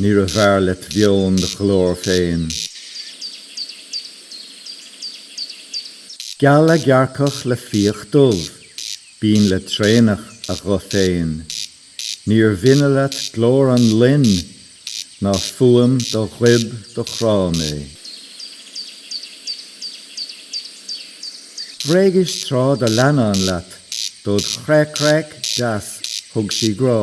Níorbh fhearr let mheon do ghlór féin. Geal a gearrcach le fiach dubh, binn le traonach a ghuth féin, níor bhinne leat glór an loin ná fuaim do ghoib do chráigh mé. Bhréagais tráth do leannán leat, dod chreac-creac deas thug sí grá.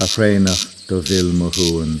A thraonach do mhill mo shuan.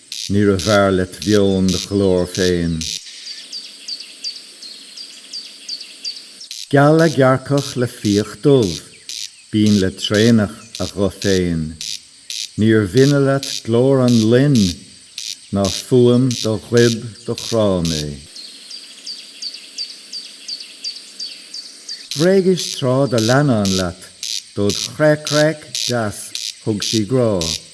Níorbh fhearr let mheon do ghlór féin. Geal a gearrcach le fiach dubh, binn le traonach a ghuth féin, níor bhinne leat glór an loin ná fuaim do ghoib do chráigh mé. Bhréagais tráth do leannán leat, dod' chreac-creac deas thug sí grá.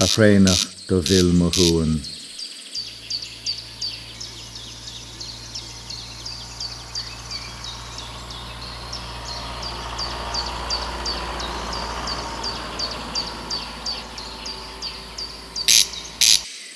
A thraonach do mhill mo shuan.